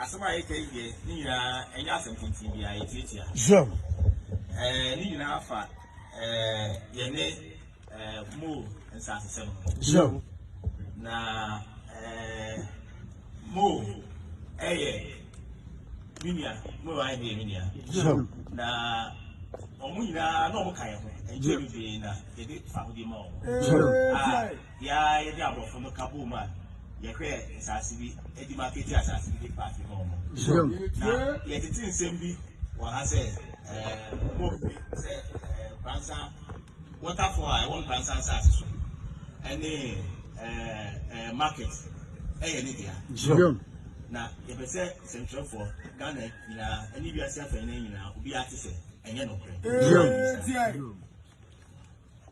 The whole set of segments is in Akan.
Asɛm a yɛka yi deɛ ne nyinaa ɛnyɛ asɛm tenten bi a yɛtiatia. Sure. Ɛɛ ne nyinaa fa ɛɛ yɛne ɛɛ mo nsasesɛm. Sure. Na ɛɛ mo ɛyɛ me nua mo yɛ ayɛ me nua. Sure. Na wɔn nyinaa na wɔn ka yɛn ho ɛnkyɛn bebree na yɛde fa ho di ma wɔn. Sure. Ah. Yɛ ara a yɛde aborɔfo no ka boom a yɛhwɛɛ nsase bi de makɛti asase bi de paake maa wɔn. Na yɛtete nsɛm bi wɔ ha sɛ ɛɛ wɔmpe sɛ ɛɛ Nkransa waterfall a ɛwɔ Nkransa nsase so ɛne ɛɛ ɛɛ market ɛyɛ ne dea. Na yɛpɛ sɛ sɛnkyerɛfoɔ Ghana nyinaa ɛne wiase afɛn no nyinaa obiara te sɛ ɛnyɛ nokorɛ.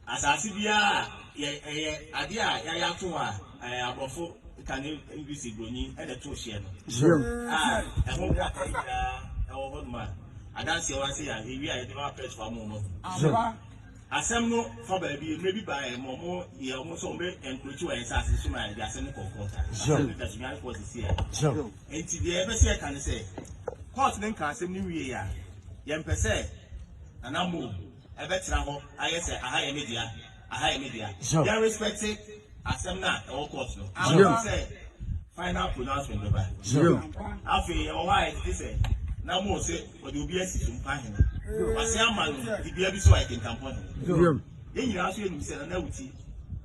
Asase biara a yɛ ɛyɛ adeɛ a yɛayɛ ato hɔ a ɛɛ aborɔfo kane English broni na ɛto hyeɛ no. Sure. A ɛho nkrataa nyinaa ɛwɔ hɔ nom a adanseɛ wa sɛ yɛ a yɛwie a yɛde ma press fa mo ma hu. Sure. Asɛm no fa baabi mmerɛ bi baeɛ ma ɔmo yɛ ɔmo sɛ ɔmo bɛ encroach wɔ yɛn saase so ma yɛde asɛm no kɔɔ court a Sure. asɛm no da so nyɛ court sisi a. Sure. Nti deɛ yɛpɛ sɛ yɛka ne sɛ court no nka asɛm no nwieɛ a yɛmpɛ sɛ Nana Mo Ɛbɛtra hɔ ayɛ sɛ aha yɛ me dea, aha yɛ me dea. Sure. Yɛn respect asɛm no a ɛwɔ court no. Sure. Afei sɛ final pronouncement bɛba. Sure. Afei ɛwɔ hɔ a ɛtete sɛ na mo sɛ wɔde obi asi so mpa hene. Wase ama no dibea bi so a ɛkenkampɔ hene. Sure. Yɛn nyinaa nso yɛnim sɛ na na awuti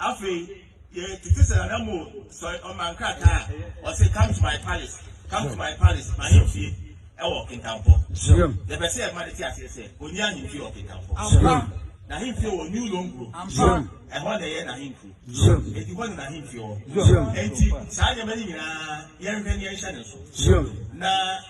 Afei, yɛtete sɛ Nana Mo sɔre ɔma nkrataa a, ɔse come to my palace, come to my palace, m'ahemfie ɛwɔ Kintampo. Yɛpɛ sɛ yɛma no te aseɛ sɛ ɔnni ahemfie wɔ Kintampo. N'ahemfie wɔ New Longro, ɛhɔ na ɛyɛ n'ahenkuro, enti hɔ na n'ahemfie wɔ. Enti saa nneɛma no nyinaa yɛnhwɛ na yɛnhyɛ ne nso. Na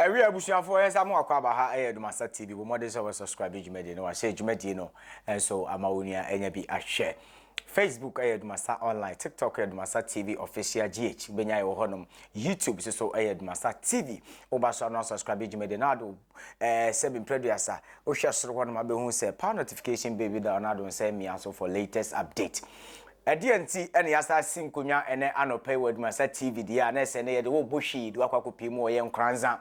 ɛwi abusuafoɔ yɛn nsa mo akɔ aba ha ɛyɛ Adomasa TV bɔ mmɔden sɛ wɔsubscribe dwumadie no wahyɛ dwumadie no nso ama wo nua ɛnya bi ahwɛ Facebook ɛyɛ Adomasa online TikTok ɛyɛ Adomasa TV official GH bɛnya ɛwɔ hɔnom YouTube nso so ɛyɛ Adomasa TV woba so ano asubscribe dwumadie no ado Ɛɛ sɛ bi mprɛ duasa. Wohwɛ soro hɔ nom a bɛhu sɛ power notification bell bi da hɔ na ado nsa mmia so for latest update. Ɛdeɛn nti ɛna yɛasan asi nkonnwa ɛnɛ anɔpa yi wɔ Adwumasa TV deɛ a na ɛsɛ ɛnɛ yɛde wo bɔ hwii de wakɔ akɔpie mu wɔ yɛn Nkoranza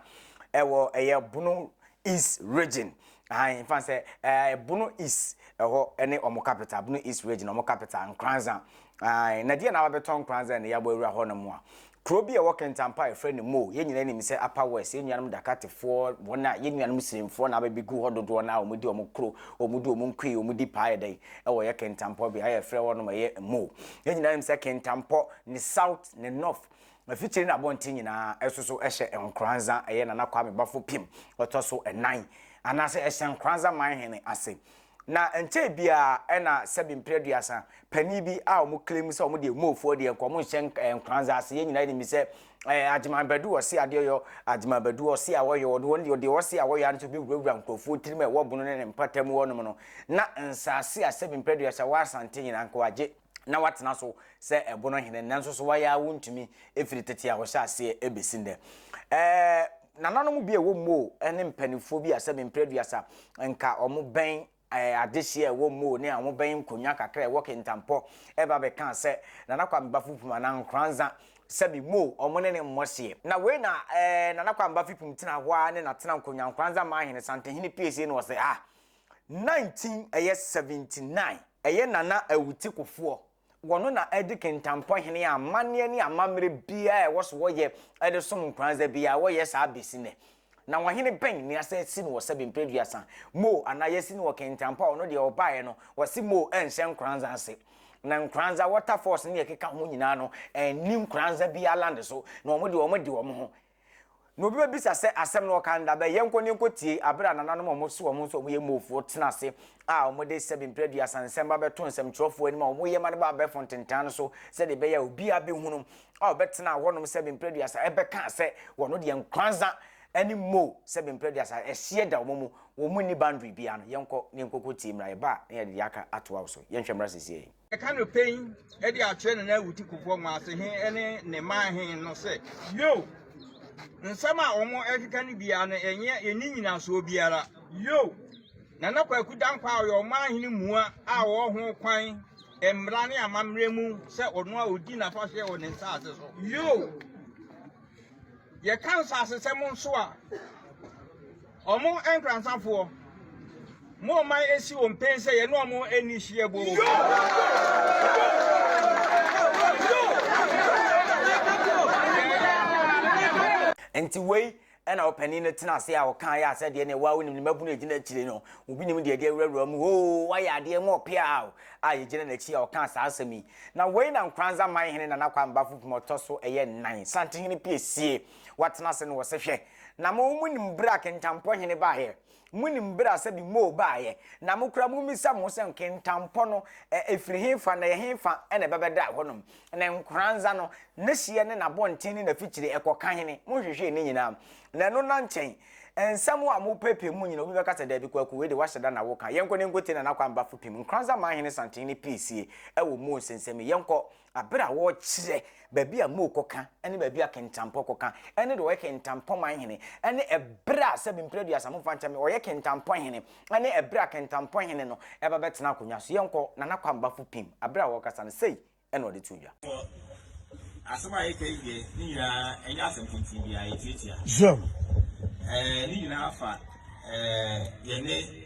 ɛwɔ ɛyɛ Bono East region. Ahan mfa sɛ ɛɛ Bono East ɛhɔ ɛne ɔmo capital Bono East region ɔmo capital Nkoranza. Ahan na deɛ na wabɛtɔ Nkoranza ɛna yɛabɔ awura hɔ nom a. Kuro bi a ɛwɔ Kɛntampa a yɛfrɛ no Moo, yɛn nyinaa nim sɛ Upper West, yɛn nuanom Dakatefoɔ, wɔn a yɛn nuanom Sirimfoɔ na abɛbegu hɔ dodoɔ no ara, wɔdi wɔn kuro, wɔdi wɔn nkue, wɔdi paa yɛ dɛn wɔ yɛ Kɛntampɔ beaeɛ a yɛfrɛ hɔ nom ɛyɛ Moo. Yɛn nyinaa nim sɛ Kɛntampɔ, ne South, ne North, afikyire ne abɔnten nyinaa ɛso so ɛhyɛ Nkoranza, ɛyɛ Nana Kwame Bafo Pim ɔtɔ so ɛnan, anaasɛ ɛhyɛ Nkoranza Manhene ase. Na ɛnkyɛe biara na sɛbe mpere aduasa panin bi a wɔn claim sɛ wɔn deɛ Mofoɔ deɛ nka wɔn nhyɛ eh, Nkranza ase yɛn nyinaa nim sɛ eh, Agyeman Badu ɔse adeɛ ɔyɔ Agyeman Badu ɔse a wɔyɔ wɔn wɔn deɛ ɔse a wɔyɔ ano nso bɛwurawura nkurɔfoɔ tirim a ɛwɔ bono ne ne mpata mu wɔnom no na nsaase a sɛbe mpere aduasa wɔ Asante nyinaa nka wɔagye na watena so sɛ ɛbono hene nanso so wayɛ a wontumi ɛfiri tete a wɔhyɛ aseɛ ɛbɛsi nnɛ ɛɛ nananom bi a ɛwɔ mmoo ne mpanimfoɔ bi a sɛ mempere aduasa nka wɔn bɛn ɛɛ adehyeɛ ɛwɔ mmoo ne a wɔn bɛn nkonnwa kakra ɛwɔ kentampɔ ɛba bɛka sɛ nana kwa meba fipum anaa nkoranza sɛ me mmoo wɔn ne ne mmɔ hyeɛ na wei na ɛɛ nana kwa meba fipum tena hɔ a ne na tena nkonnwa nkoranza maa hene santehene piesie na ɔsɛ ah 19 ɛyɛ 79 ɛyɛ Nana Awuti Kofoɔ wɔno na ɛde Kintampɔ hene a amanneɛ ne amammerɛ biara ɛwɔ so wɔyɛ ɛde som Nkoranza biara wɔyɛ saa bɛsi nɛ na wɔhene bɛn ne asɛ si no wɔ sɛbe mprɛduasa moo anaa yɛsi no wɔ Kintampɔ a ɔno deɛ ɔbaeɛ no wɔse moo ɛnhyɛ Nkoranza ase na Nkoranza waterfalls ne ɛkeka ho nyinaa no ɛnni Nkoranza biara land so na wɔn deɛ wɔn de wɔn ho Na obi bɛbisa sɛ, Asɛm no ɔka no da bɛn? Yɛnkɔ na yɛnkɔtie bere a nananom a wɔse wɔn nso wɔyɛ Mofoɔ tena ase a wɔde sɛbe mprɛduasa nsɛm ba bɛto nsɛmtwerɛfoɔ anim a wɔyɛ ma no ba abɛɛfo ntentan no so sɛdeɛ ɛbɛyɛ a obiara bɛhunu a ɔbɛtenaa hɔnom sɛbe mprɛduasa ɛbɛka sɛ wɔn deɛ Nkoranza ne Mo sɛbe mprɛduasa ɛhyeɛ da wɔn mu wɔn nni boundary biara no. Yɛnkɔ na yɛnkɔkɔtie mmra yɛba a na yɛde deɛ aka atoa wo so. Yɛnhwɛ mmra seesei. Ka no pɛn de akyerɛ ne nan wuti kofoɔ mu ase he ne ne man he no sɛ, Yoo! Nsɛm a wɔn ɛkeka no biara no ɛnyɛ ɛni nyinasoɔ biara. Yoo! Nana Kwaku Dankwa a ɔyɛ ɔman hene mua a ɔwɔ ho kwan mmara ne amammerɛ mu sɛ ɔno a ɔdi n'afahyeɛ wɔ ne nsaase so. Yoo! Yɛka nsaasesɛm nso a, Ɔmo nkransa foɔ. Mo ɔman esi wɔn pen sɛ yɛne ɔmo nni hyeɛ boo. Nti wei na ɔpanin no tena ase a ɔkaeɛ a, sɛ deɛ neɛ wo ara wonim ne mmabunu a ɛgyina akyire no, obi nim deɛ ɛde awurawura mu hoo, wayɛ adeɛ ma ɔpea ao, a yɛgyina n'akyi a ɔkaa saa asɛm yi. Na wei na Nkranza man hene Nana Kwame Bafo Pim ɔtɔ so ɛyɛ nnan, Santehene Piesie, Wɔatena ase na wɔse, Hwɛ, na mo, monim bere a kentampɔ hene baeɛ? Monim bere a sɛbi Mo baeɛ? Na mo koraa mommisa mo ho sɛ, Kentampɔ no, ɛ, efiri hefa, na ɛhefa na ɛbɛbɛda ɛhɔnom? Na nkoranza no, n'ahyeɛ ne n'abɔnten ne n'afikyire, ɛkɔka hene? Monhwehwee ne nyinaa? Na ɛno nna nkyɛn. Nsɛm a mopeepee mu nyinaa, obi bɛka sɛ, Daabi, Kwaku, wei de, woahyɛ da na woka. Yɛnkɔ na yɛnkɔtie Nana Kwame Bafo Pim. Nkoranza maa hene santen no pii sie wɔ Mo nsɛnsɛm mu. Yɛnkɔ. Aber a wɔrekyerɛ baabi a Mo kɔka ne baabi a Kentampɔ kɔka ne deɛ ɔyɛ Kentampɔ man hene ne ɛberɛ a sɛbi mprɛ aduasa mo mfa nkyɛ me ɔyɛ Kentampɔ hene ne ɛberɛ a Kentampɔ hene no ɛba bɛtena akonnwa so yɛnkɔ Nana Kwambafo Pim aberɛ a wɔrekasa no sei na ɔde too dwa. Wɔ asɛm a yɛka yi deɛ ne nyinaa ɛnyɛ asɛm tenten biara yɛtuatua. Sure. Ɛɛ ne nyinaa fa ɛɛ yɛne.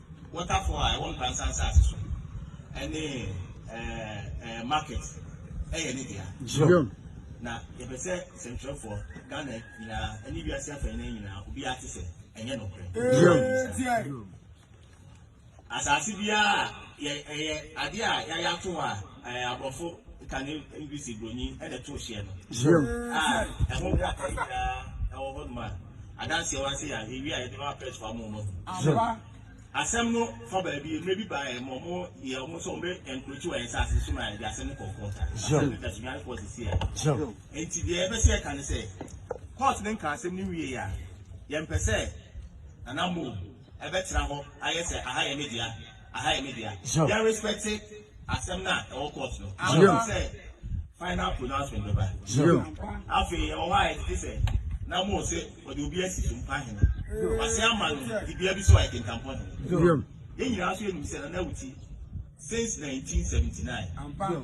Waterfall a ɛwɔ Npransa Asase so ne ɛɛ market ɛyɛ ne dea. Zion. Na yɛpɛ sɛ sɛnkyerɛfoɔ, Ghana nyinaa ɛne wiase afɛn no nyinaa obiara te sɛ ɛnyɛ nokorɛ. Zion. Asase biara yɛ ɛyɛ adeɛ a yɛayɛ ato hɔ a. ɛɛ aborɔfo kane english broni ɛna ɛto hyɛ no a ɛho nkrataa yi nyinaa ɛwɔ hɔ nom a adanseɛ wa se yɛ a yɛwie a yɛde ma press fa mo mo asɛm no fa baabi mmerɛ bi baa ɛmɔ mo yɛ ɔmo sɛ ɔmo bɛ ɛnkurokyi wɔ yɛn sɛ ase so ma yɛde asɛm no kɔkɔɔ ta asɛm no tɛso nyare kɔɔ sisi a nti deɛ ɛbɛ sɛ ɛka ne sɛ court no nka asɛm no wie a yɛmpɛ sɛ nana mo ɛbɛtena hɔ ayɛ sɛ aha yɛ ne dea Aha yɛ me dea. Sure. Yɛ respect asɛm na ɛwɔ court no. Sure. Ama sɛ final pronouncement bɛba. Sure. Afei ɛwɔ hɔ a ɛtete sɛ na mo se wɔde obi asi so mpa hene. Wase ama no dibea bi so a ɛkenkampɔ hene. Sure. Yɛn nyinaa nso yɛnim sɛ Nana Awuti since 1979. Ampa.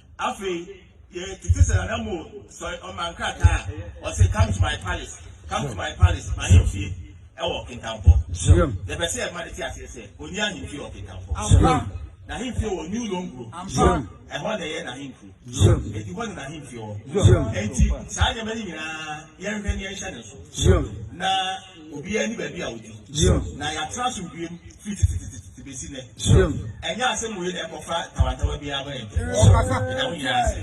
Afei, yɛtete sɛ Nana Mo sɔre ɔma nkrataa a ɔse come to my palace, come to my palace, m'ahemfie ɛwɔ Kintampo. Yɛpɛ sɛ yɛma no te aseɛ sɛ ɔnni ahemfie wɔ Kintampo. N'ahemfie wɔ New Longro, ɛhɔ na ɛyɛ n'ahenkuro. Enti hɔ na n'ahemfie wɔ. Enti saa nneɛma no nyinaa yɛnhwɛ na yɛnhyɛ ne nso. Na Obiara ni baabi a odi. Zion. Na yɛatena asomdwoe mu firi tetetetete besi nnɛ. Zion. Ɛnyɛ asɛm wei na ɛkɔfa tawantawa biara ba yɛn ntam. Ɛda mo nyinaa ase.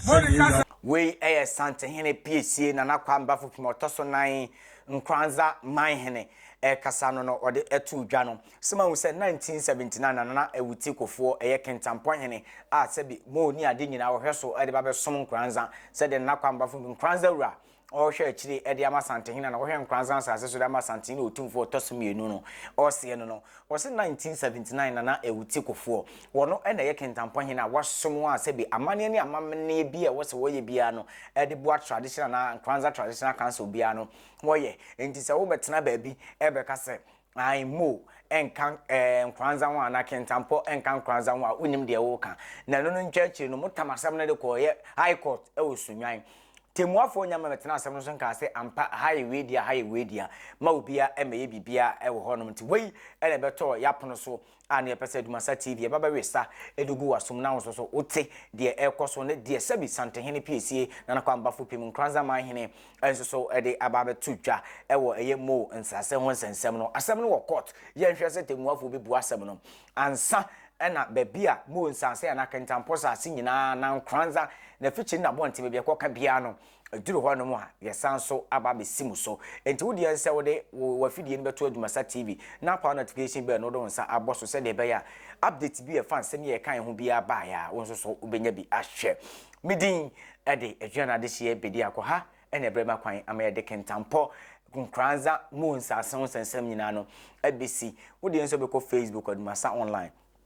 Zion. Wei yɛ Santehene Piesie Nana Kwame Bafupem a ɔtɔ so nan Nkoranza Manhene rekasa no no ɔde too dwa no. So mahu sɛ 1979 na Nana Awuti Kofoɔ yɛ Kintampɔn Hene a sɛbi Moo ne ade nyinaa ɔhwɛ so de ba bɛsom Nkoranza sɛdeɛ Nana Kwame Bafupem, Nkoranza Wura, ɔrehwɛ akyire de ama Santehene na ɔhwɛ Nkoranza asase so de ama Santehene Otumfoɔ ɔtɔ so mmienu no, ɔreseɛ no no, wɔse 1979 Nana Awuti Kofoɔ, wɔno na ɛyɛ Kintampɔn hene a wasom a sɛbi amanneɛ ne amamenneɛ biara a ɛwɔ sɛ wɔyɛ biara no de boa tradition anaa Nkoranza Traditional Council biara no wɔyɛ. Enti sɛ wobɛtena baabi bɛka sɛ Ae Mo nka eh nkoranza ho anaa kentampɔ nka nkoranza ho a wonim deɛ woka na ɛno no ntwa akyire no motam asɛm no de kɔɔ yɛ High Court wɔ Sunnwan. Temuafoɔ Nyame bɛtenaa asɛm no so nkaa sɛ ampa ha yɛ weidea ha yɛ weidea ma obiara mmɛyɛ biribiara wɔ hɔnom nti wei na ɛbɛtɔɔ yɛapono so a ne yɛpɛ sɛ Dumasa TV ɛba bɛwesa de gu w'asom na wo nso so wote deɛ ɛrekɔ so ne deɛ Sɛbi Santehene Piesie Nana Kwambafo Pim Nkranza Manhene nso so de aba abɛto dwa wɔ ɛyɛ Mo nsase ho nsɛnsɛm no. Asɛm no wɔ court, yɛnhwɛ sɛ tɛmmuafoɔ bɛbua asɛm no ansa na baabi a Mo nsase anaa Kentampɔ saase nyinaa anaa Nkranza n'afikyiri ne n'abɔnten baabi a ɛkɔka biara no Ɛduru hɔnom a, yɛsan nso aba abɛsi mo so. Enti wo deɛ ne sɛ wode wo w'afidie no bɛto Adwumasa TV na apaw notification bell no wode wo nsa abɔ so sɛdeɛ ɛbɛyɛ a update bi a ɛfa nsɛm yi a yɛkaeɛ ho biara baeɛ a, wo nso so wobɛnya bi ahwɛ. Me din de Aduane Adehyeɛ Bediako. Ha na ɛbrɛ ma kwan ama yɛde Kintampɔ Nkoranza mu nsase ho nsɛnsɛm nyinaa no abɛsi. Wo deɛ nso bɛkɔ Facebook Adwumasa Online.